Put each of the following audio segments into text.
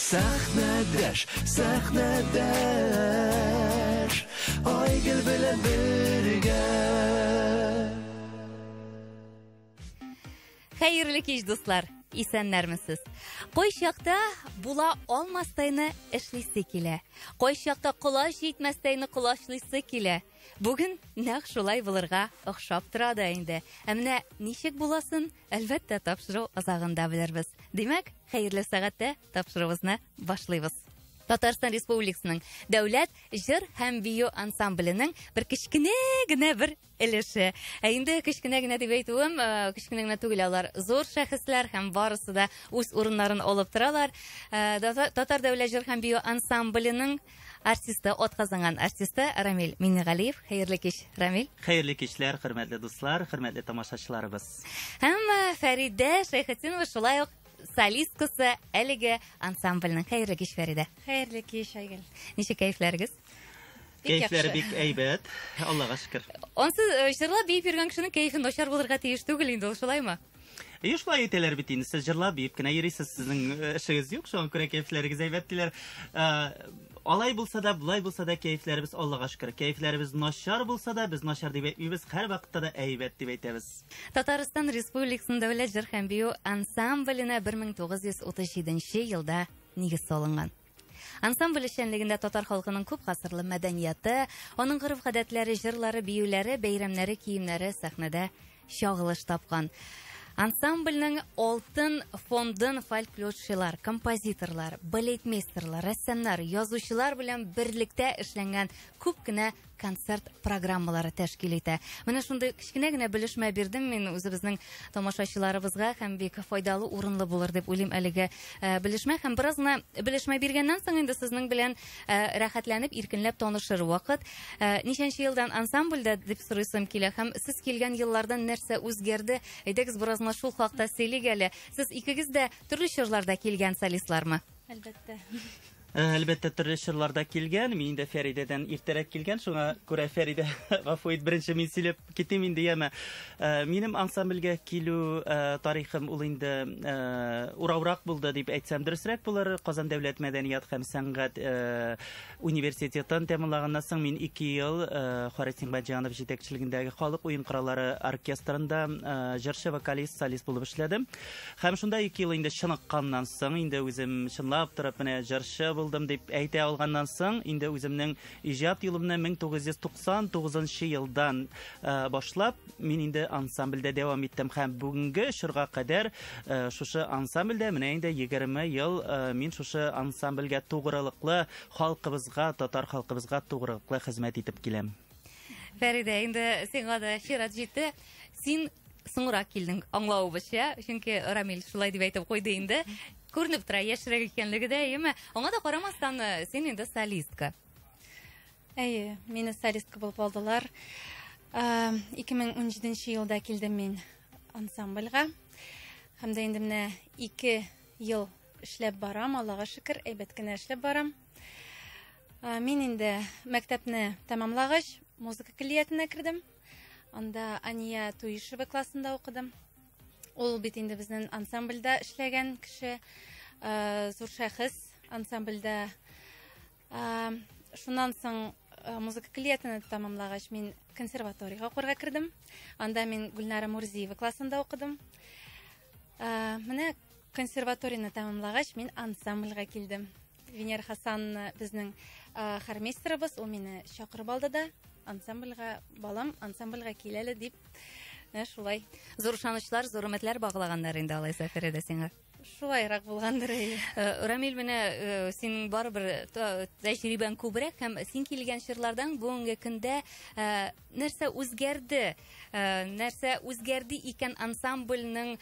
Сәхнәдәш, сәхнәдәш, Айгөл белән бергә. Хәерле кич, дуслар! Исәннәрмесез. Кайчакта була алмастайны эшлисе килә. Кайчакта колач җитмәстәйне колачлыйсы килә. Бүген нәкъ шулай булырга охшап тора да инде. Ә менә ничек буласын, әлбәттә, тапшыру азагында белербез. Димәк, хәерле сәгатьтә тапшыруыбызны башлыйбыз. Татарстан Республикасының дәүләт җыр һәм бию ансамбленең бер кечкенә генә бер өлеше. Ә инде кечкенә генә дип әйтүем, э, кечкенә генә түгел алар. Зур шәхесләр һәм барысы да үз урыннарын алып торалар. Э, Татар дәүләт җыр һәм бию ансамбленең артисты, атказанган артисты Рамил Минигалиев. Хәерле кич, Рамил. Хәерле кичләр, хөрмәтле дуслар, хөрмәтле тамашачыларыбыз. Һәм э, Фәридә Шәйхетдинова шулай ук солисткасы әлеге ансамбльнең. Хәерле кич, Фәридә. Хәерле кич, Айгөл. Ничек кәефләрегез? Кәефләре бик әйбәт. Аллага шөкер. Онсыз э, җырлап биеп йөргән кешенең кәефе начар булырга тиеш түгел инде, ул шулаймы? Әйе, шулай әйтәләр бит инде, сез җырлап, биеп кенә йөрисез, сезнең э, эшегез юк, шуңа күрә кәефләрегез әйбәт диләр. Э, алай булса да, болай булса да кәефләребез Аллага шөкер. Кәефләребез начар булса да, без начар дип әйтмибез, һәрвакытта да әйбәт дип әйтәбез. Татарстан Республикасының дәүләт җыр һәм бию ансамбленә 1937 елда нигез салынган. Ансамбль эшчәнлегендә татар халкының күп гасырлы мәдәнияты, аның гореф-гадәтләре, җырлары, биюләре, бәйрәмнәре, киемнәре сәхнәдә чагылыш тапкан. Ансамбльнең алтын фондын фольклорчылар, композиторлар, балетмейстерлар, рәссамнар, язучылар белән берлектә эшләнгән күп кенә концерт программалары тәшкил итә. Менә шундый кечкенә генә белешмә бирдем мин үзебезнең тамашачыларыбызга һәм бик файдалы урынлы булыр дип уйлыйм әлеге э, белешмә һәм бераз гына белешмә биргәннән соң инде сезнең белән э, рәхәтләнеп иркенләп танышыр вакыт. Э, ничәнче елдан ансамбльдә дип сорыйсым килә һәм сез килгән еллардан нәрсә үзгәрде? Әйдәгез бераз гына шул хакта сөйлик әле. Сез икегез дә төрле чорларда килгән солистлармы? Әлбәттә. Э, әлбәттә төрле чорларда килгән мин инде фәридәдән иртәрәк килгән шуңа күрә фәридә гафу ит беренче мин сөйләп китим инде яме э, минем ансамбльгә килү э, тарихым ул инде урауырак булды дип әйтсәм дөресрәк булыр казан дәүләт мәдәният һәм сәнгать Университетын тәмамлаганнан соң мин ике ел Харисин Баҗанов җитәкчелегендәге халык уен кораллары оркестрында җырчы, вокалист, солист булып эшләдем. Һәм шунда ике ел инде чыныкканнан соң, инде үзем чынлап торып менә җырчы булдым дип әйтә алганнан соң, инде үземнең иҗат юлымны 1999 елдан башлап мин инде ансамбльдә дәвам иттем һәм бүгенге чорга кадәр э, шушы ансамбльдә менә инде 20 ел э, мин шушы ансамбльгә тугрылыклы халкыбызга, татар халкыбызга тугрылыклы хезмәт итеп киләм. Фәридә, инде сиңа да чират җитте. Син соңрак килдең, аңлавыбызча, чөнки Рамил шулай дип әйтеп куйды инде. Күренеп тора, яшьрәк икәнлеге дә, яме. Аңа да карамастан, э, син инде солистка. Әйе, мине солистка булып алдылар. 2017 э, елда килдем мин ансамбльга. Һәм дә инде менә 2 ел эшләп барам, Аллага шөкер, әйбәт кенә эшләп барам. Э, мин инде мәктәпне тәмамлагач, музыка көллиятенә кердем. Анда Ания Туишева классында укыдым. Ул бит инде безнең ансамбльдә эшләгән кеше, э, зур шәхес ансамбльдә Шуннан соң Э, музыка клетаны тәмамлагач мин консерваториягә укырга кердем анда мин гөлнара мурзиева классында укыдым э, менә консерваторияны тәмамлагач мин ансамбльгә килдем венера хасанна безнең э, хормейстерыбыз ул мине чакырып алды да ансамбльгә балам ансамбльгә кил әле дип менә шулай зур ышанычлар зур өметләр баглаганнар инде алайса фәридә сиңа Шулайрак булгандыр. Э, Рамил, менә э, синең барыбер э, тәҗрибәң күбрәк һәм син килгән чорлардан бүгенге көндә нәрсә үзгәрде? Нәрсә үзгәрде икән ансамбльнең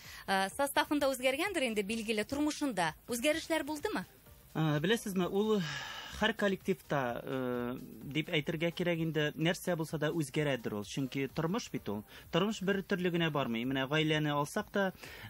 составында үзгәргәндер инде билгеле тормышында. Үзгәрешләр булдымы? Ә, беләсезме, ул һәр коллективта э, дип әйтергә кирәк инде нәрсә булса да үзгәрәдер ул чөнки тормыш бит ул тормыш бер төрле генә бармый менә гаиләне алсак та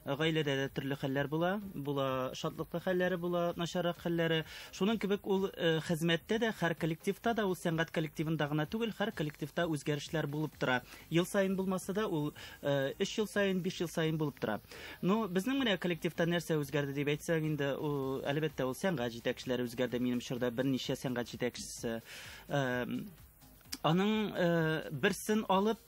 гаиләдә дә төрле хәлләр була була шатлыклы хәлләре була начаррак хәлләре шуның кебек ул э, хезмәттә дә һәр коллективта да ул сәнгать коллективында гына түгел һәр коллективта үзгәрешләр булып тора ел саен булмаса да ул э, өч ел саен биш ел саен булып тора Ну, безнең менә коллективта нәрсә үзгәрде дип әйтсәң инде, ул әлбәттә ул сәнгать җитәкчеләре үзгәрде. Минем чорда берничә сәнгать җитәкчесе аның берсен алып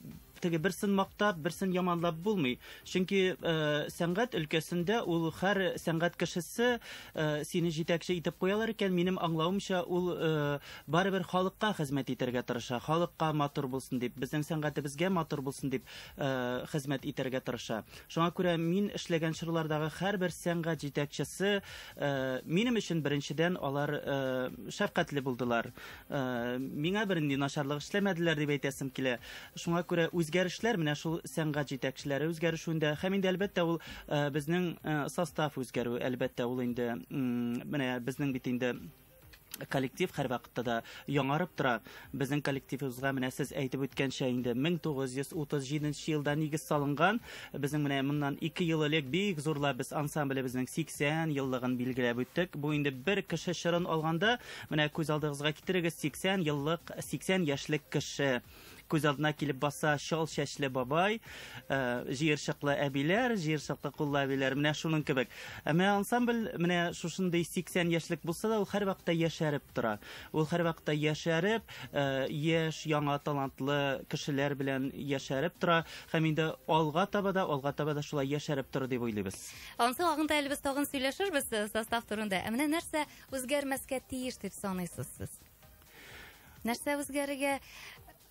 теге берсен мактап, берсен яманлап булмый. Чөнки э, сәнгать өлкәсендә ул һәр сәнгать кешесе э, сине җитәкче итеп куялар икән, минем аңлавымча, ул э, барыбер халыкка хезмәт итәргә тырыша. Халыкка матур булсын дип, безнең сәнгатебезгә матур булсын дип, хезмәт итәргә тырыша. Шуңа күрә мин эшләгән чорлардагы һәрбер сәнгать җитәкчесе минем өчен беренчедән алар шәфкатьле булдылар. Миңа бернинди начарлык эшләмәделәр дип әйтәсем килә. Шуңа күрә үзгәрешләр менә шул сәнгать җитәкчеләре үзгәрешүендә һәм инде әлбәттә ул безнең состав үзгәрү, әлбәттә ул инде менә безнең бит инде Коллектив һәрвакытта да яңарып тора. Безнең коллективыбызга менә сез әйтеп үткәнчә инде 1937 елда нигез салынган. Безнең менә моннан 2 ел элек бик зурлап без ансамблебезнең 80 еллыгын билгеләп үттек. Бу инде бер кеше чырын алганда, менә күз алдыгызга китерегез 80 еллык, 80 яшьлек кеше. Күз алдына килеп баса чал чәчле бабай, э, җыерчыклы әбиләр, җыерчыклы куллы әбиләр, менә шуның кебек. Ә менә ансамбль менә шушындый 80 яшьлек булса да, ул һәрвакытта яшәреп тора. Ул һәрвакытта яшәреп, э, яшь, яңа талантлы кешеләр белән яшәреп тора. Һәм инде алга таба да, алга таба да шулай яшәреп торыр дип уйлыйбыз. Ансы агында әлбез тагын сөйләшербез э, состав турында. Ә менә нәрсә үзгәрмәскә тиеш дип саныйсыз сез? Нәрсә үзгәрергә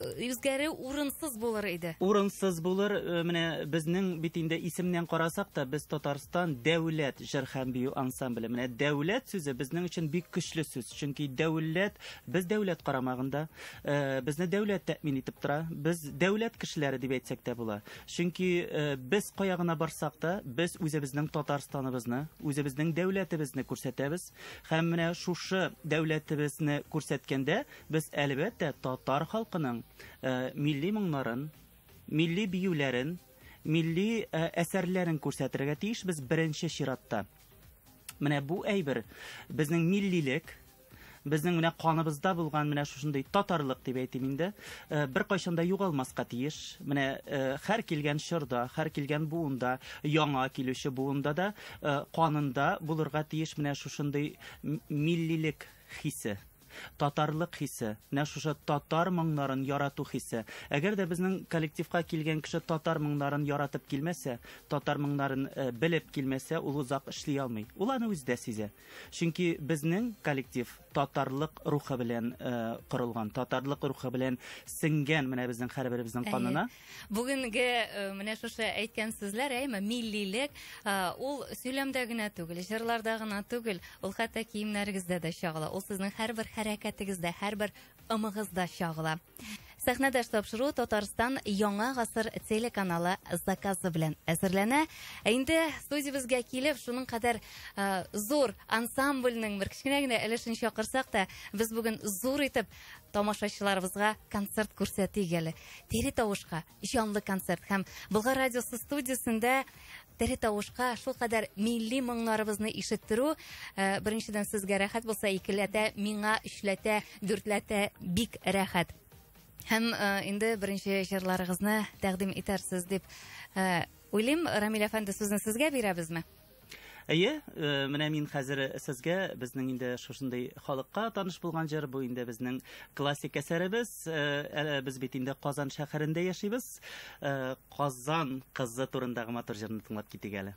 үзгәрү урынсыз булыр иде. Урынсыз булыр, э, менә безнең бит инде исемнән карасак та, без Татарстан дәүләт җыр һәм бию ансамбле. Менә дәүләт сүзе безнең өчен бик көчле сүз, чөнки дәүләт, без дәүләт карамагында, э, безне дәүләт тәэмин итеп тора. Без дәүләт кешеләре дип әйтсәк тә була. Чөнки э, без кая гына барсак та, без үзебезнең Татарстаныбызны, үзебезнең дәүләтебезне күрсәтәбез. Һәм менә шушы дәүләтебезне күрсәткәндә без әлбәттә татар халкының э, милли моңнарын, милли биюләрен, милли э, әсәрләрен күрсәтергә тиешбез беренче чиратта. Менә бу әйбер безнең миллилек, безнең менә каныбызда булган менә шушындый татарлык дип әйтим инде э, бер кайчан да югалмаска тиеш менә э, һәр килгән чорда һәр килгән буында яңа килүче буында да Э, канында булырга тиеш менә шушындый миллилек хисе татарлык хисе менә шушы татар моңнарын ярату хисе әгәр дә безнең коллективка килгән кеше татар моңнарын яратып килмәсә татар моңнарын э, белеп килмәсә ул озак эшли алмый ул аны үзе дә сизә чөнки безнең коллектив татарлык рухы белән э, корылган, татарлык рухы белән сеңгән менә безнең һәрберебезнең канына. Бүгенге э, менә шушы әйткән сүзләр, әйме, миллилек, э, ул сөйләмдә генә түгел, җырларда гына түгел, ул хәтта киемнәрегездә дә чагыла. Ул сезнең һәрбер хәрәкәтегездә, һәрбер ымыгызда чагыла. Сәхнәдәш тапшыру Татарстан Яңа гасыр телеканалы заказы белән әзерләнә. Ә инде студиябезгә килеп, шуның кадәр ә, зур ансамбльнең бер кечкенә генә өлешен чакырсак та, без бүген зур итеп тамашачыларыбызга концерт күрсәтик әле. Тери тавышка, җанлы концерт һәм Болгар радиосы студиясендә тере тавышка шулкадәр милли моңнарыбызны ишеттерү э, беренчедән сезгә рәхәт булса икеләтә миңа өчләтә дүртләтә бик рәхәт һәм э, инде беренче җырларыгызны тәкъдим итәрсез дип э, уйлыйм рамил әфәнде сүзне сезгә бирәбезме Әйе, э, менә мин хәзер сезгә безнең инде шушындый халыкка таныш булган җыр, бу инде безнең классик әсәребез. Э, э, без бит инде Казан шәһәрендә яшибез. Казан кызы турындагы матур җырны тыңлап китик әле.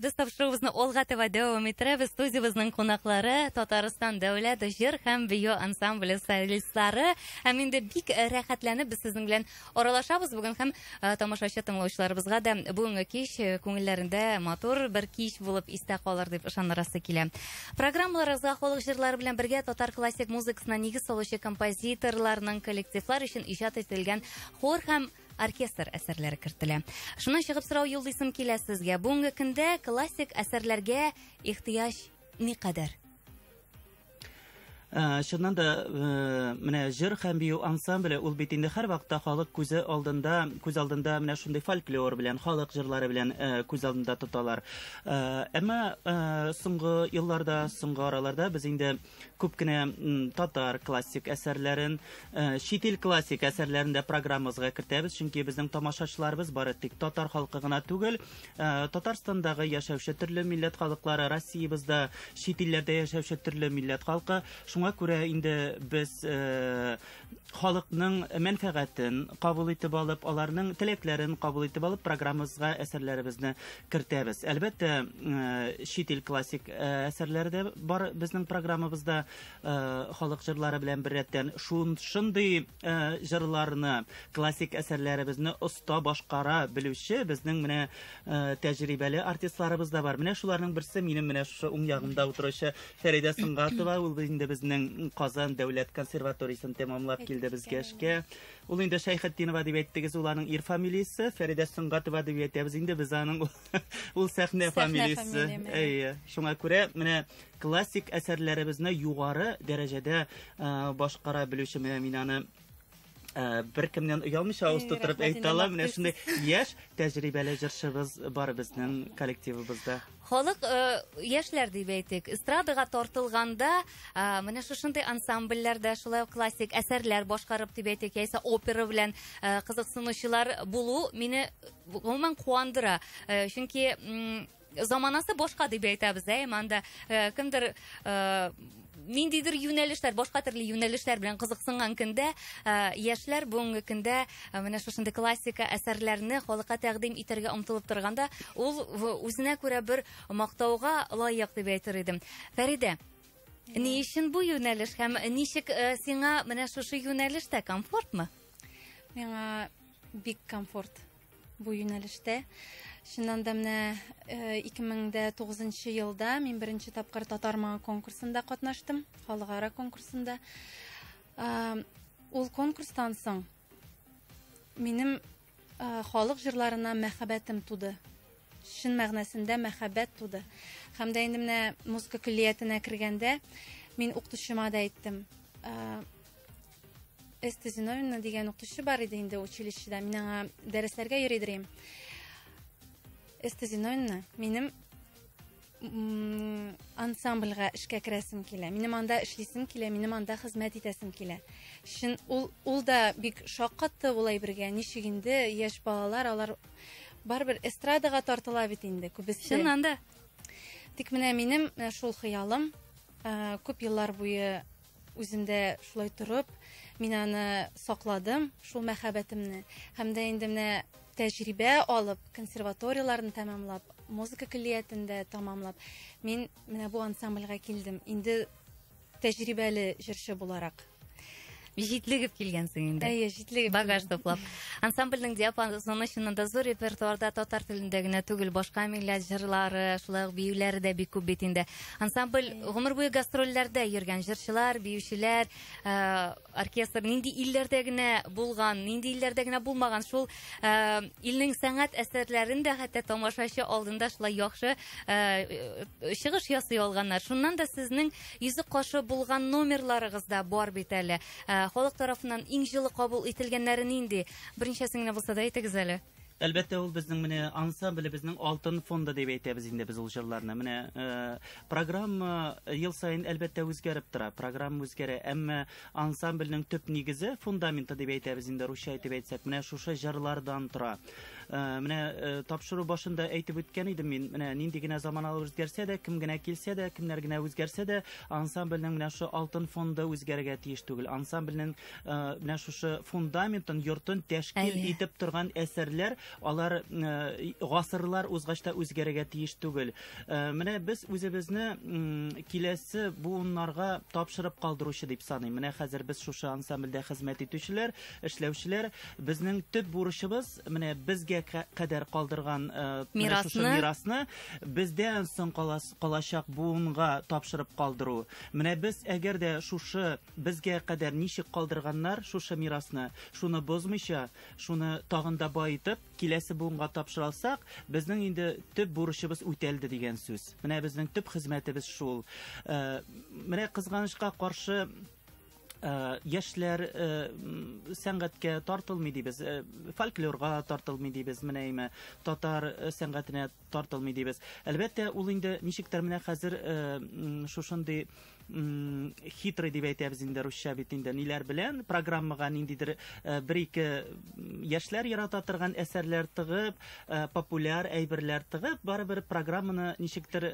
Без тапшыруыбызны алга таба дәвам иттерәбез. Студиябезнең кунаклары Татарстан дәүләт җыр һәм бию ансамбле солистлары. Һәм инде бик э, рәхәтләнеп без сезнең белән аралашабыз бүген һәм э, тамашачы тыңлаучыларыбызга да бүгенге кич э, күңелләрендә матур бер кич булып истә калыр дип ышанырасы килә. Программаларыгызга халык җырлары белән бергә татар классик музыкасына нигез салучы композиторларның, коллективлар өчен иҗат ителгән хор һәм оркестр әсәрләре кертелә. Шуннан чыгып сорау юллыйсым килә сезгә. Бүгенге көндә классик әсәрләргә ихтыяҗ никадәр? Э, чыннан да э, менә җыр һәм бию ансамбле ул бит инде һәрвакытта халык күзе алдында күз алдында менә шундый фольклор белән халык җырлары белән э, күз алдында тоталар әмма соңгы елларда соңгы араларда без инде күп кенә татар классик әсәрләрен чит ил классик әсәрләрен дә программабызга кертәбез чөнки безнең тамашачыларыбыз бары тик татар халкы гына түгел Э, Татарстандагы яшәүче төрле милләт халыклары, Россиябездә, чит илләрдә яшәүче төрле милләт халкы. Шуңа күрә инде без э, халыкның мәнфәгатен кабул итеп алып, аларның теләкләрен кабул итеп алып, программабызга әсәрләребезне кертәбез. Әлбәттә, э, чит ил классик әсәрләре дә бар безнең программабызда халык җырлары белән беррәттән. Шундый Э, җырларны, классик әсәрләребезне оста башкара белүче безнең менә э, тәҗрибәле артистларыбыз да бар. Менә шуларның берсе минем менә шушы уң ягымда утыручы Фәридә Сынгатова, ул инде безнең Казан дәүләт консерваториясен тәмамлап килде безгә эшкә. Ул инде Шәйхетдинова дип әйттегез, ул аның ир фамилиясе, Фәридә Сынгатова дип әйтәбез. Инде без аның ул сәхнә фамилиясе. Әйе. Шуңа күрә менә Классик әсәрләребезне югары дәрәҗәдә башкара белүче менә мин аны Э, бер кемнән оялмыйча авыз тутырып әйтә ала менә шундый яшь тәҗрибәле җырчыбыз бар безнең коллективыбызда халык э, яшьләр дип әйтик эстрадага тартылганда э, менә шушындый ансамбльләрдә шулай ук классик әсәрләр башкарып дип әйтик яисә опера белән кызыксынучылар булу мине гомумән куандыра чөнки заманасы башка дип әйтәбез ә иманда э, кемдер э, ниндидер юнәлешләр башка төрле юнәлешләр белән кызыксынган көндә э, яшьләр бүгенге көндә менә шушындый классика әсәрләрне халыкка тәкъдим итәргә омтылып торганда ул үзенә күрә бер мактауга лаек дип әйтер идем фәридә ни өчен бу юнәлеш һәм ничек э, сиңа менә шушы юнәлештә комфортмы миңа бик комфорт Бу юнәлештә чыннан да менә 2009 э, елда мин беренче тапкыр татар моңы конкурсында катнаштым, халыкара конкурсында. Ул конкурстан соң минем э, халык җырларына мәхәббәтем туды. Чын мәгънәсендә мәхәббәт туды. Һәм дә инде менә музыка көллиятенә кергәндә мин укытучыма да әйттем. Э, Эсте Зиновина дигән укытучы бар иде инде училищеда. Мин аңа дәресләргә йөри дирем. Эсте Зиновина, минем ансамбльгә эшкә керәсем килә. Минем анда эшлисем килә, минем анда хезмәт итәсем килә. Шин ул ул да бик шаккатты улай бергә. Ничек инде яшь балалар алар барыбер эстрадага тартыла бит инде күбесе. Чыннан да. Тик менә минем э, шул хыялым э, күп еллар буе Үзем дә шулай торып, мин аны сакладым, шул мәхәббәтемне. Һәм дә инде менә тәҗрибә алып, консерваторияләрне тәмамлап, музыка көллиятендә тәмамлап, мин менә бу ансамбльгә килдем. Инде тәҗрибәле җырчы буларак. Җитлегеп килгәнсең инде. Әйе, җитлегеп. Багаж туплап. Ансамбльнең диапазоны чыннан да зур репертуарда татар телендә генә түгел, башка милләт җырлары, шулай ук биюләре дә бик күп бит инде. Ансамбль гомер буе гастрольләрдә йөргән җырчылар, биючеләр, э, оркестр нинди илләрдә генә булган, нинди илләрдә генә булмаган, шул э, илнең сәнгать әсәрләрен дә хәтта тамашачы алдында шулай яхшы э, чыгыш ясый алганнар. Шуннан да сезнең йөзек кашы булган номерларыгыз да бар бит әле. Халык тарафыннан иң җылы кабул ителгәннәре нинди? Беренчәсен генә булса да әйтегез әле. Әлбәттә, ул безнең менә ансамблебезнең алтын фонды дип әйтәбез инде без ул җырларны. Менә э, программа э, ел саен әлбәттә үзгәреп тора. Программа үзгәрә, әмма ансамбльнең төп нигезе, фундаменты дип әйтәбез инде русча әйтеп әйтсәк, менә шушы җырлардан тора. Э, менә э, тапшыру башында әйтеп үткән идем мин, менә нинди генә заманалар үзгәрсә дә, кем генә килсә дә, кемнәр генә үзгәрсә дә, ансамбльнең менә шушы алтын фонды үзгәрергә тиеш түгел. Ансамбльнең Э, менә шушы фундаментын йортын тәшкил итеп торган әсәрләр алар э, гасырлар узгач та үзгәрергә тиеш түгел э, менә без үзебезне киләсе буыннарга тапшырып калдыручы дип саныйм менә хәзер без шушы ансамбльдә хезмәт итүчеләр эшләүчеләр безнең төп бурычыбыз менә безгә кадәр калдырган мирасны мирасны бездән соң калачак буынга тапшырып калдыру менә без әгәр дә шушы Безгә кадәр ничек калдырганнар шушы мирасны, шуны бозмыйча, шуны тагын да баетып, киләсе буынга тапшыра алсак, безнең инде төп бурычыбыз үтәлде дигән сүз. Менә безнең төп хезмәтебез шул. Э, менә кызганычка каршы Э, яшьләр э, сәнгатькә тартылмый дибез э, фольклорга тартылмый дибез менә әйме татар сәнгатенә тартылмый дибез. Әлбәттә, ул инде ничектер менә хәзер э, шушындый хитрый дип әйтәбез инде русча бит инде ниләр белән программага ниндидер э, бер ике яшьләр ярата торган әсәрләр тыгып, э, популяр әйберләр тыгып, барыбер программаны ничектер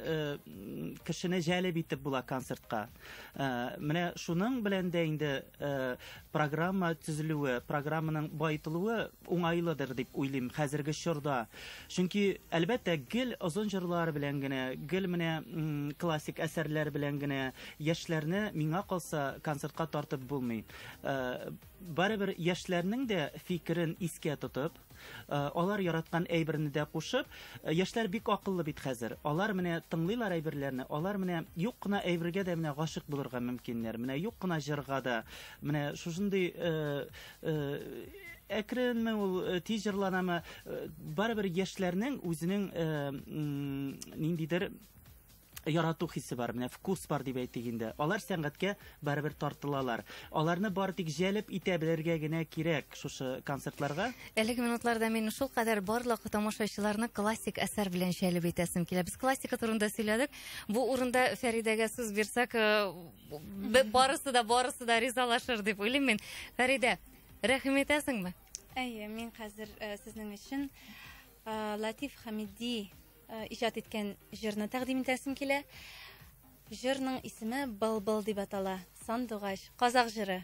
кешене җәлеп итеп була концертка. Менә шуның белән дә инде программа төзелүе, программаның баетылуы Уңайлыдыр дип уйлыйм хәзерге чорда. Чөнки, әлбәттә, гел озын җырлар белән генә, гел менә классик әсәрләр белән генә яшьләрне, миңа калса, концертка тартып булмый. Барыбер яшьләрнең дә фикерен искә тотып, алар яраткан әйберне дә кушып, яшьләр бик акыллы бит хәзер. Алар менә тыңлыйлар әйберләрне, алар менә юк кына әйбергә дә менә гашыйк булырга мөмкиннәр, менә юк кына җырга да. Менә шушындый әкренме ул э, тиз җырланамы э, барыбер яшьләрнең үзенең э, ниндидер ярату хисе бар менә вкус бар дип әйтик инде алар сәнгатькә барыбер тартылалар аларны бар тик җәлеп итә белергә генә кирәк шушы концертларга әлеге минутларда мин шул кадәр барлык тамашачыларны классик әсәр белән җәлеп итәсем килә без классика турында сөйләдек бу урында фәридәгә сүз бирсәк э, барысы да барысы да ризалашыр дип уйлыйм мин фәридә рәхим итәсеңме әйе мин хәзер э, сезнең өчен э, латиф хамиди э, иҗат иткән җырны тәкъдим итәсем килә җырның исеме былбыл дип атала сандугач казак җыры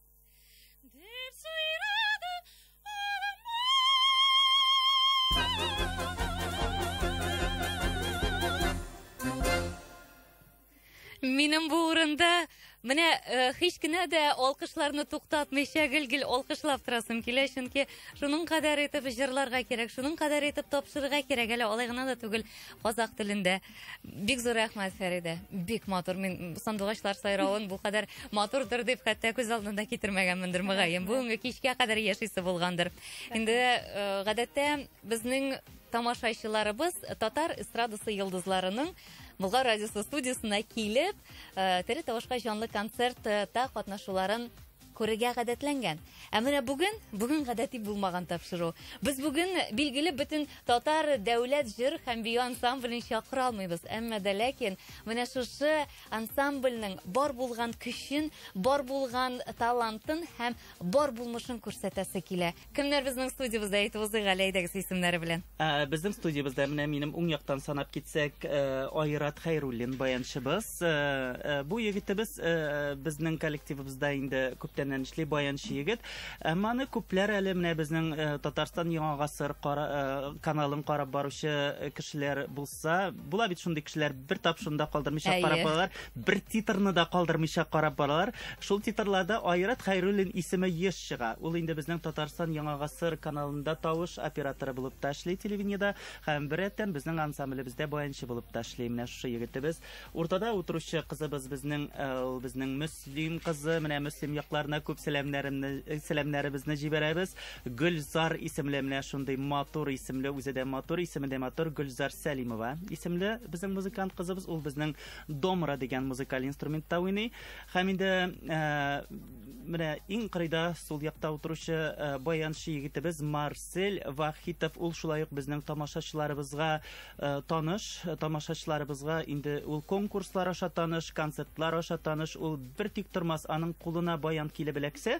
Минем бу урында Менә э, һич кенә дә алкышларны туктатмыйча гел-гел алкышлап торасым килә, чөнки шуның кадәр итеп җырларга кирәк, шуның кадәр итеп тапшырырга кирәк, әле алай гына да түгел казах телендә. Бик зур рәхмәт, Фәридә. Бик матур. Мин сандугачлар сайравын бу кадәр матурдыр дип хәтта күз алдында китермәгәнмендер мөгаен. Бүгенге кичкә кадәр яшисе булгандыр. Инде э, гадәттә безнең тамашачыларыбыз татар эстрадасы йолдызларының Болгар радиосы студиясенә килеп, э, тере тавышка җанлы концертта катнашуларын Күрергә гадәтләнгән. Ә менә бүген, бүген гадәти булмаган тапшыру. Без бүген билгеле бөтен татар дәүләт җыр һәм бию ансамблен чакыра алмыйбыз. Әмма дә ләкин менә шушы ансамбльнең бар булган көчен, бар булган талантын һәм бар булмышын күрсәтәсе килә. Кемнәр безнең студиябездә әйтеп узыйк әле әйдәгез исемнәре белән. Ә, безнең студиябездә менә минем уң яктан санап китсәк, э, Айрат Хәйруллин баянчыбыз. Э, э, бу егетебез э, безнең коллективыбызда инде күптәннән эшли баянчы егет. Әмма аны күпләр әле менә безнең э, Татарстан Яңа гасыр кара, э, каналын карап баручы кешеләр булса, Була бит шундый кешеләр, бер тапшыны да калдырмыйча Әйе. карап баралар, бер титрны да калдырмыйча карап баралар. Шул титрларда Айрат Хәйруллин исеме еш чыга. Ул инде безнең Татарстан Яңа гасыр каналында тавыш операторы булып та эшли телевидениедә һәм беррәттән безнең ансамблебездә баянчы булып та эшли. Менә шушы егетебез. Уртада утыручы кызыбыз безнең э, ул безнең Мөслим кызы. Менә Мөслим якларына күп сәламнәремне э, сәламнәребезне җибәрәбез. Гөлзар исемле менә шундый матур исемле, үзе дә матур, исеме дә матур, Гөлзар Сәлимова исемле безнең музыкант кызыбыз, ул безнең домра дигән музыкаль инструментта уйный. Һәм инде ә, менә иң кырыйда сул якта утыручы ә, баянчы егетебез Марсель Вахитов, ул шулай ук безнең тамашачыларыбызга ә, таныш, тамашачыларыбызга инде ул конкурслар аша таныш, концертлар аша таныш, ул бер тик тормас, аның кулына баян килеп эләксә,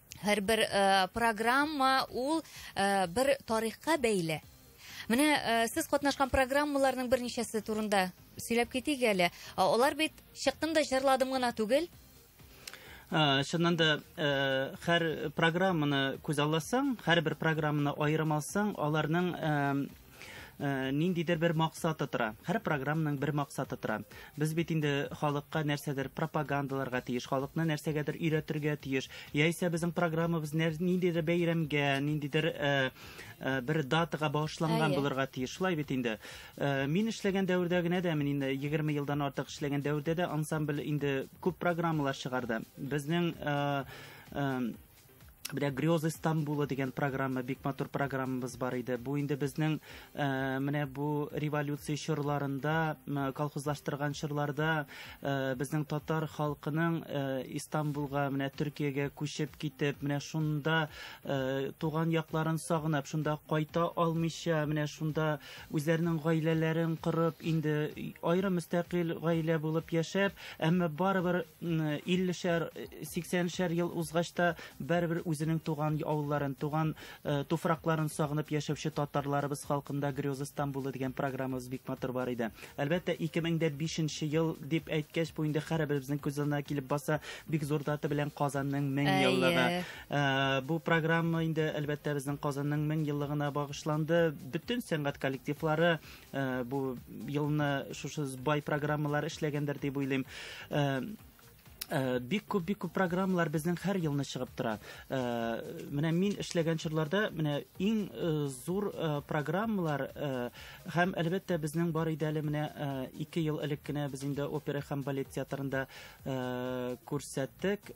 һәрбер э, программа ул э, бер тарихка бәйле менә э, сез катнашкан программаларның берничәсе турында сөйләп китик әле алар бит чыктым да җырладым гына түгел Ә, чыннан да ә, һәр программаны күз алласаң, һәрбер программаны аерым алсаң, аларның ә, Э, ниндидер бер максаты тора һәр программаның бер максаты тора без бит инде халыкка нәрсәдер пропагандаларга тиеш халыкны нәрсәгәдер өйрәтергә тиеш яисә безнең программабыз ниндидер бәйрәмгә ниндидер э, э, бер датага багышланган булырга тиеш шулай бит инде мин эшләгән дәвердә генә дә мин инде егерме елдан артык эшләгән дәвердә дә ансамбль инде күп программалар чыгарды безнең Бля, Грёзы Стамбула дигән программа, бик матур программабыз бар иде. Бу инде безнең э, менә бу революция чорларында, колхозлаштырган чорларда э, безнең татар халкының э, Истанбулга, менә Төркиягә күчеп китеп, менә шунда э, туган якларын сагынып, шунда кайта алмыйча, менә шунда үзләренең гаиләләрен корып, инде аерым мөстәкыйль гаилә булып яшәп, әмма барыбер 50-шәр, 80-шәр ел узгач та барыбер үзенең туган авылларын, туган э, туфракларын сагынып яшәүче татарларыбыз халкында Грёза Стамбулы дигән программабыз бик матур бар иде. Әлбәттә, 2005 ел дип әйткәч, бу инде хәрәбебезнең күз алдына килеп баса, бик зур дата белән Казанның 1000 еллыгы. Э, бу программа инде әлбәттә безнең Казанның 1000 еллыгына багышланды. Бөтен сәнгать коллективлары э, бу елны шушы бай программалар эшләгәндер дип уйлыйм. Э, бик күп бик күп программалар безнең һәр елны чыгып тора. Менә мин эшләгән чорларда менә иң зур программалар һәм әлбәттә безнең бар иде әле менә 2 ел элек кенә без инде опера һәм балет театрында күрсәттек.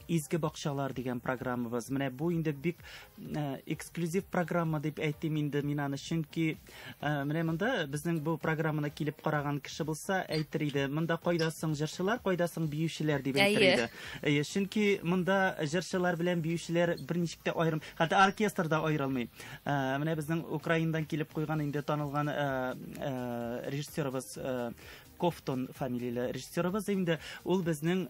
Изге бакчалар дигән программабыз. Менә бу инде бик э, эксклюзив программа дип әйтим инде мин аны, чөнки э, менә монда безнең бу программаны килеп караган кеше булса, әйтер иде, монда кайда соң җырчылар, кайда соң биючеләр дип әйтер иде. Әйе, чөнки монда җырчылар белән биючеләр берничек тә аерым, хәтта оркестр да аерылмый. Э, менә безнең Украинадан килеп куйган инде танылган режиссерыбыз Кофтон фамилияле режиссерыбыз инде ул безнең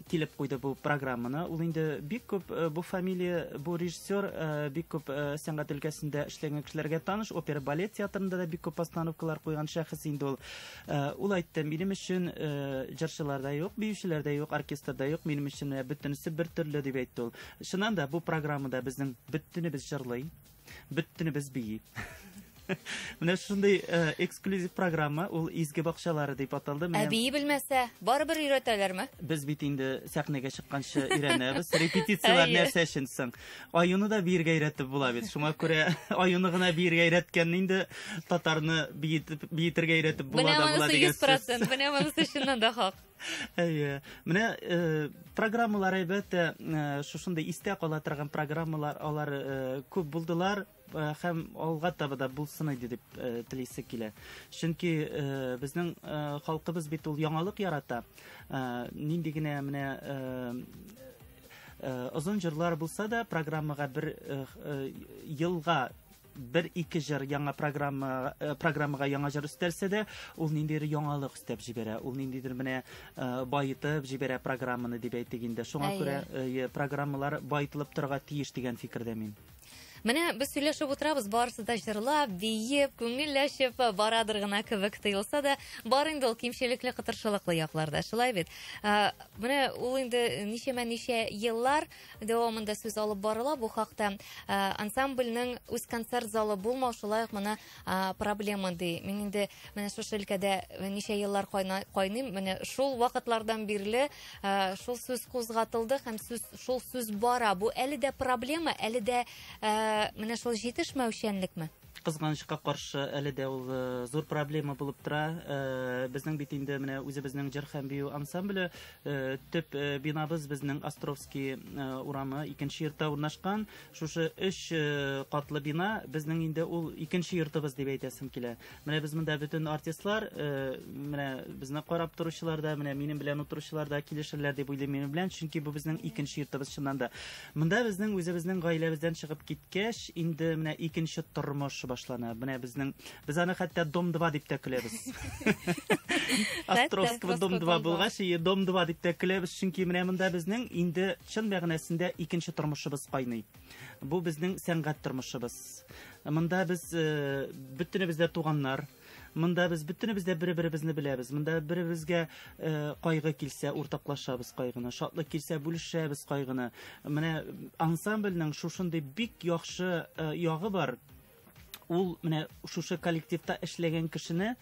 килеп куйды бу программаны. Ул инде бик күп э, бу фамилия, бу режиссер э, бик күп э, сәнгать өлкәсендә эшләгән кешеләргә таныш, опера балет театрында да бик күп постановкалар куйган шәхес инде ул. Ул айтты, минем өчен җырчылар да юк, биючеләр дә юк, оркестр да юк, минем өчен бөтенесе бер төрле дип әйтте ул. Чыннан да бу программада безнең бөтенебез җырлый. Бөттенебез бии. Менә шундый э, эксклюзив программа, ул Изге бакчалары дип аталды. Ә бии белмәсә, барыбер өйрәтәләрме? Без бит инде сәхнәгә чыкканчы өйрәнәбез. Репетицияләр нәрсә өчен соң? Аюны да биергә өйрәтеп була бит. Шуңа күрә аюны гына биергә өйрәткән инде татарны биетергә өйрәтеп була да була дигән сүз. Менә монысы 100%, менә монысы чыннан да хак. Әйе. Менә э, программалар әйбәт, э, шушындый истә кала торган программалар алар э, күп булдылар э, һәм алга таба да булсын иде дип э, телисе килә. Чөнки э, безнең э, халкыбыз бит ул яңалык ярата. Э, нинди генә менә э, Э, озын җырлар булса да программага бер э, э, елга бер ике җыр яңа программа э, программага яңа җыр өстәлсә дә ул ниндидер яңалык өстәп җибәрә ул ниндидер менә э, баетып җибәрә программаны дип әйтик инде шуңа күрә э, программалар баетылып торырга тиеш дигән фикердә мин Менә без сөйләшеп утырабыз, барысы да җырлап, биеп, күңелләшеп барадыр гына кебек тоелса да, бар инде ул кимчелекле, кытыршылыклы якларда. Шулай бит. Менә ул инде ничәмә ничә еллар Дәвамында сүз алып барыла бу хакта. Ә, ансамбльнең үз концерт залы булмау шулай ук моны а, проблема ди. Мин инде менә шушы өлкәдә ничә еллар кайна- кайныйм. Менә шул вакытлардан бирле а, шул сүз кузгатылды һәм сүз, шул сүз бара. Бу әле дә проблема, әле дә а, менә шул җитешмәүчәнлекме? кызганычка каршы әле дә ул э, зур проблема булып тора э, безнең бит инде менә үзебезнең җыр һәм бию ансамбле э, төп бинабыз безнең островский урамы икенче йортта урнашкан шушы өч катлы бина безнең инде ул икенче йортыбыз дип әйтәсем килә менә без монда бөтен артистлар менә безне карап торучылар да менә минем белән утыручылар да килешерләр дип уйлыйм минем белән чөнки бу безнең икенче йортыбыз чыннан да Монда безнең үзебезнең гаиләбездән чыгып киткәч, инде менә икенче тормыш башлана. Менә безнең без аны хәтта дом 2 дип тә көләбез. Островского дом 2 булгач, и дом 2 дип тә көләбез, чөнки менә монда безнең инде чын мәгънәсендә икенче тормышыбыз кайный. Бу безнең сәнгать тормышыбыз. Монда без э, бөтенебез дә туганнар. Монда без бөтенебез дә бер-беребезне беләбез. Монда бер-беребезгә э, кайгы килсә, уртаклашабыз кайгыны. Шатлык килсә, бүлешәбез кайгыны. Менә ансамбльнең шушындый бик яхшы э, ягы бар ул менә шушы коллективта эшләгән кешене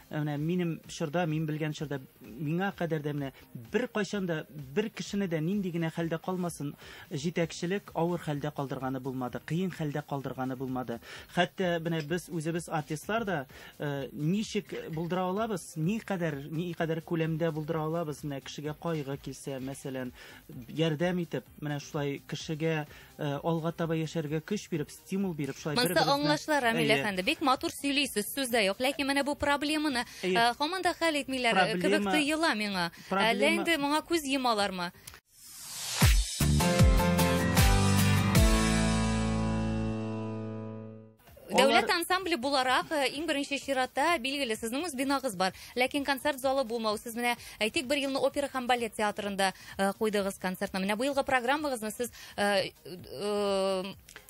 э, менә минем чорда мин белгән чорда миңа кадәр дә менә Беркайчан да, бер кешене дә нинди генә хәлдә калмасын, җитәкчелек авыр хәлдә калдырганы булмады, кыен хәлдә калдырганы булмады. Хәтта менә без үзебез артистлар да э, ничек булдыра алабыз, ни кадәр, ни кадәр күләмдә булдыра алабыз, менә кешегә кайгы килсә, мәсәлән, ярдәм итеп, менә шулай кешегә Э, алга таба яшәргә көч биреп, стимул биреп, шулай бер Монсы аңлашыла, Рамил әфәнде. Бик матур сөйлисез, сүз дә юк. Ләкин менә бу проблеманы э, һаман да хәл итмиләр э, кебек тоела миңа. Әллә инде моңа күз йомалармы? Дәүләт Алар... ансамбле буларак э, иң беренче чиратта билгеле сезнең үз бинагыз бар. Ләкин концерт залы булмау. Сез менә әйтик бер елны опера һәм балет театрында э, куйдыгыз концертны. Менә бу елгы программагызны сез э,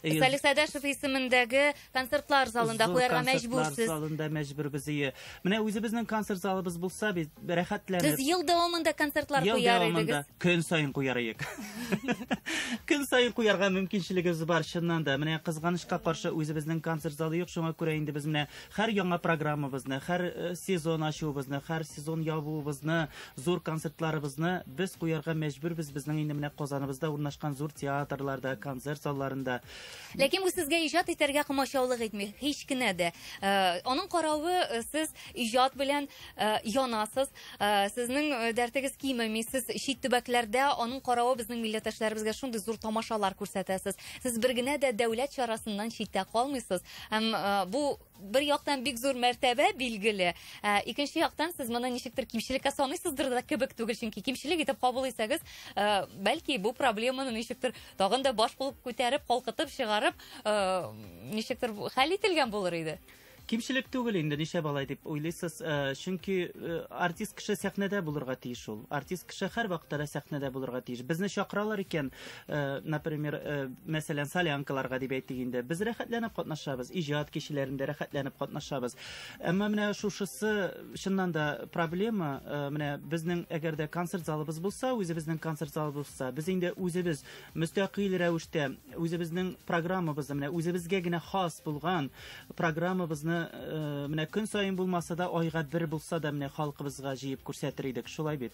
Салих Сәдәшев исемендәге концертлар залында куярга мәҗбүрсез. Залында мәҗбүрбез. Менә үзебезнең концерт залыбыз булса бит, рәхәтләнеп. Без ел дәвамында концертлар ел куяр идегез. Ел дәвамында көн саен куяр идек. Көн саен куярга мөмкинчелегебез бар, чыннан да. Менә кызганычка каршы үзебезнең концерт залы юк, шуңа күрә инде без менә һәр яңа программабызны, һәр э, сезон ачуыбызны, һәр сезон ябуыбызны, зур концертларыбызны без куярга мәҗбүрбез. Безнең инде менә Казаныбызда урнашкан зур театрларда, концерт залларында. Ләкин бу сезгә иҗат итәргә комачаулык итми, һич кенә дә. Э, аның каравы э, сез иҗат белән э, янасыз, сезнең дәртегез кимеми, сез чит төбәкләрдә аның каравы безнең милләттәшләребезгә шундый зур тамашалар күрсәтәсез. Сез бер генә дә дәүләт чарасыннан читтә калмыйсыз. Һәм бу бер яктан бик зур мәртәбә билгеле ә, икенче яктан сез моны ничектер кимчелеккә саныйсыздыр да кебек түгел чөнки кимчелек итеп кабул итсәгез ә, бәлки бу проблеманы ничектер тагын да баш булып күтәреп калкытып чыгарып ә, ничектер хәл ителгән булыр иде кимчелек түгел инде ничә балай дип уйлыйсыз э, чөнки э, артист кеше сәхнәдә булырга тиеш ул артист кеше һәрвакытта да сәхнәдә булырга тиеш безне чакыралар икән Э, например, э, мәсәлән, солянкаларга дип әйтик инде. Без рәхәтләнеп катнашабыз, иҗат кичәләрендә рәхәтләнеп катнашабыз. Әмма менә шушысы чыннан да проблема, э, менә безнең әгәр дә концерт залыбыз булса, үзебезнең концерт залыбыз булса, без инде үзебез мөстәкыйль рәвештә үзебезнең программабызны, менә үзебезгә генә хас булган программабызны менә көн саен булмаса да, айга бер булса да менә халкыбызга җыеп күрсәтер идек. Шулай бит.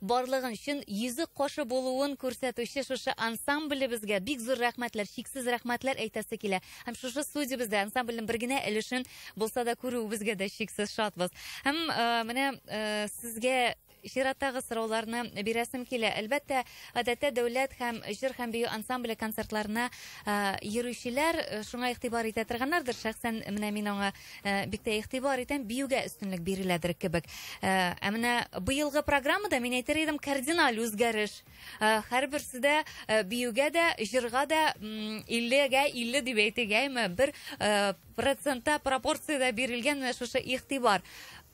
Барлыгын, чын йөзек кашы булуын күрсәтүче шушы ансамблебезгә бик зур рәхмәтләр, чиксез рәхмәтләр әйтәсе килә. Һәм шушы студиябездә ансамбльнең бер генә өлешен булса да күрүебезгә дә чиксез шатбыз. Һәм э, менә э, сезгә чираттагы сорауларны бирәсем килә. Әлбәттә, гадәттә дәүләт һәм җыр һәм бию ансамбле концертларына э, йөрүчеләр э, шуңа игътибар итә торганнардыр. Шәхсән менә мин аңа Э, бик тә игътибар итәм биюгә өстенлек биреләдер кебек э, ә менә быелгы программада мин әйтер идем кардиналь үзгәреш э, һәрберсе дә биюгә дә җырга да иллегә илле дип әйтегәйме бер процентта пропорциядә бирелгән менә шушы игътибар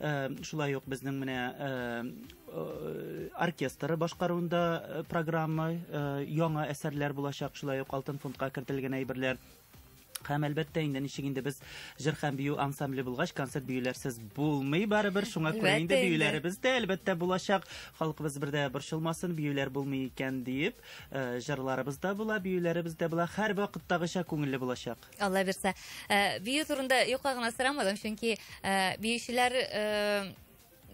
Э, шулай ук безнең менә э, э, оркестры башкаруында программа яңа әсәрләр булачак шулай ук алтын фондка кертелгән әйберләр һәм әлбәттә инде ничек инде без җыр һәм бию ансамбле булгач концерт биюләрсез булмый барыбер шуңа күрә инде биюләребез дә әлбәттә булачак халкыбыз бердә борчылмасын биюләр булмый икән диеп э, җырларыбыз да була биюләребез дә була һәр вакыттагыча күңелле булачак Алла бирсә. Э, бию турында юкка гына сорамадым, чөнки э, биючеләр э,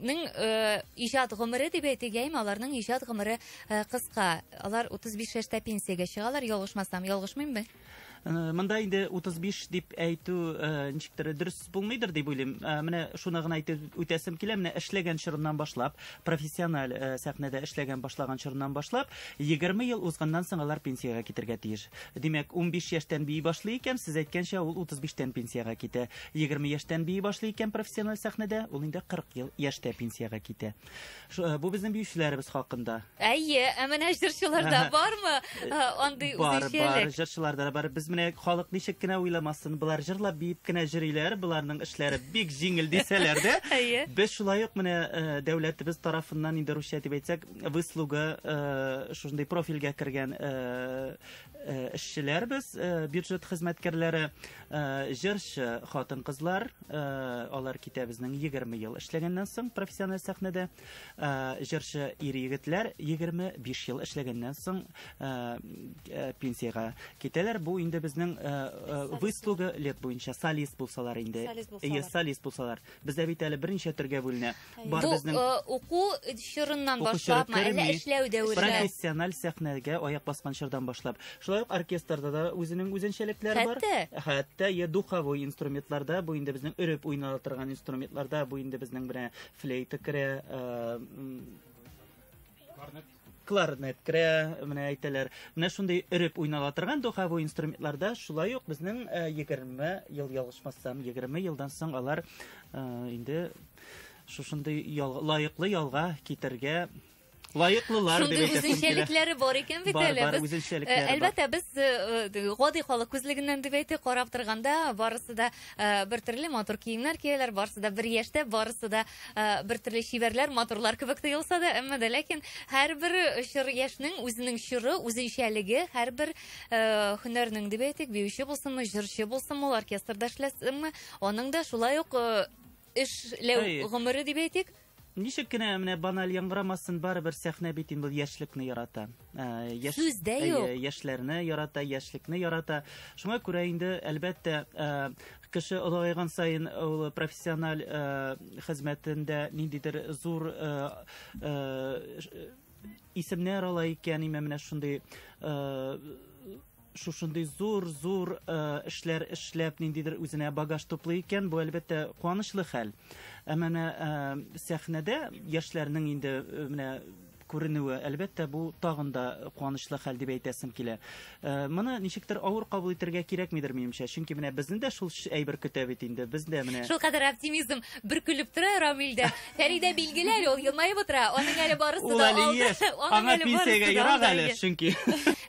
ның э, иҗат гомере дип әйтик яимә аларның иҗат гомере э, кыска алар 35 яшьтә пенсиягә чыгалар ялгышмасам ялгышмыйммы Э, монда инде 35 дип әйтү э, ничектер дөрес булмыйдыр дип уйлыйм. Э, менә шуны гына әйтеп үтәсем килә. Менә эшләгән чорыннан башлап, профессиональ э, сәхнәдә эшләгән башлаган чорыннан башлап, 20 ел узганнан соң алар пенсиягә китергә тиеш. Димәк, 15 яшьтән бии башлый икән, сез әйткәнчә, ул 35-тән пенсиягә китә. 20 яшьтән бии башлый икән профессиональ сәхнәдә, ул инде 40 ел яшьтә пенсиягә китә. Э, бу безнең биючеләребез хакында. Әйе, ә менә җырчыларда бармы э, э, андый бар, үзенчәлек? Бар, бар, җырчыларда бар. Без менә халык ничек кенә уйламасын, болар җырлап биеп кенә җырлыйлар, боларның эшләре бик җиңел дисәләр дә. Әйе. Без шулай ук менә дәүләтебез тарафыннан инде русча дип әйтсәк, выслуга шушындый профильгә кергән эшчеләрбез, бюджет хезмәткәрләре. Э, җырчы хатын-кызлар, э, алар китә безнең 20 ел эшләгәннән соң профессиональ сәхнәдә. Э, җырчы ир-егетләр 25 ел эшләгәннән соң пенсиягә китәләр. Бу инде безнең выслуга лет буенча солист булсалар инде. Солист булсалар. Бездә бит әле берничә төргә бүленә. Бар Бу безнең э, уку чорыннан Уку чоры башлапмы, әллә керми. эшләү дәвере? профессиональ сәхнәгә аяк баскан чордан башлап. Шулай ук оркестрда да үзенең үзенчәлекләре бар. Хәтта? Хәтта е духовой инструментларда, бу инде безнең өреп уйнала торган инструментларда, бу инде безнең менә флейта керә, э, м, кларнет керә, менә әйтәләр. Менә шундый өреп уйнала торган духовой инструментларда шулай ук безнең 20 э, ел ялгышмасам, 20 елдан соң алар э, инде шушындый лаеклы ялга китергә лаеклылар дип әйтәсем килә. үзенчәлекләре бар икән бит әле. Бар, бар, үзенчәлекләре э, Әлбәттә, без э, э, гади халык күзлегеннән дип әйтик, карап торганда, барысы да бер төрле матур киемнәр кияләр, барысы да бер яшьтә, барысы да бер төрле чибәрләр, матурлар кебек тоелса да, әмма дә ләкин һәрбер чор яшьнең үзенең чоры, үзенчәлеге, һәрбер э, һөнәрнең дип әйтик, биюче булсынмы, җырчы булсынмы, ул оркестрда эшләсенме, аның да шулай ук э, эшләү Әй. гомере дип әйтик. Ничек кенә менә баналь яңгырамасын, барыбер сәхнә бит инде ул яшьлекне ярата. Э, яш, сүз дә э, юк яшьләрне ярата яшьлекне ярата шуңа күрә инде әлбәттә э, кеше олыгайган сайын ул профессиональ хезмәтендә ниндидер зур исемнәр ала икән менә шундый шушындый зур-зур э, эшләр эшләп, ниндидер үзенә багаж туплый икән, бу әлбәттә куанычлы хәл. Ә менә э, сәхнәдә яшьләрнең инде э, менә күренүе, әлбәттә, бу тагын да куанычлы хәл дип әйтәсем килә. Моны ничектер авыр кабул итәргә кирәкмидер, минемчә. Чөнки менә безне дә шул әйбер көтә бит инде. Без дә менә Шул кадәр оптимизм бөркелеп тора Рамилдә. Фәридә билгеле әле, ул елмаеп утыра. Аның әле барысы Ул да әле алда. еш. Аның Аңа әле барысы пенсиягә да ерак алда әле, әле. чөнки.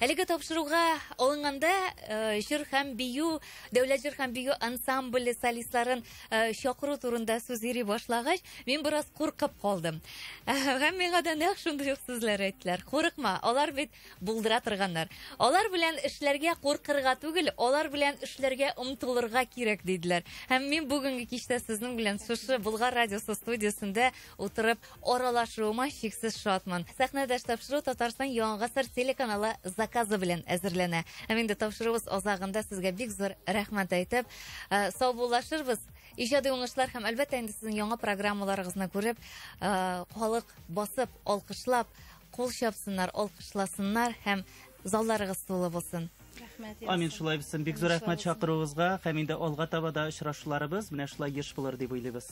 Әлеге тапшыруга алынганда э, җыр һәм бию, дәүләт җыр һәм бию ансамбле солистларын э, чакыру турында сүз йөри башлагач, мин бераз куркып калдым. Һәм миңа да нәкъ шундый ук сүзләр әйттеләр. Курыкма, алар бит Булдыра торганнар. Алар белән эшләргә куркырга түгел, алар белән эшләргә омтылырга кирәк, диделәр. Һәм мин бүгенге кичтә сезнең белән шушы Болгар радиосы студиясендә утырып аралашуыма чиксез шатмын. Сәхнәдәш тапшыру Татарстан Яңа гасыр телеканалы заказы белән әзерләнә. Һәм инде тапшыруыбыз азагында сезгә бик зур рәхмәт әйтеп, э, саубуллашырбыз. Иҗади уңышлар һәм әлбәттә инде сезнең яңа программаларыгызны күреп, э, халык басып, алкышлап, Кул чапсыннар, алкышласыннар һәм залларыгыз тулы булсын. Рәхмәт. Амин шулай булсын. Бик зур рәхмәт чакыруыгызга һәм инде алга таба да очрашуларыбыз менә шулай еш булыр дип уйлыйбыз.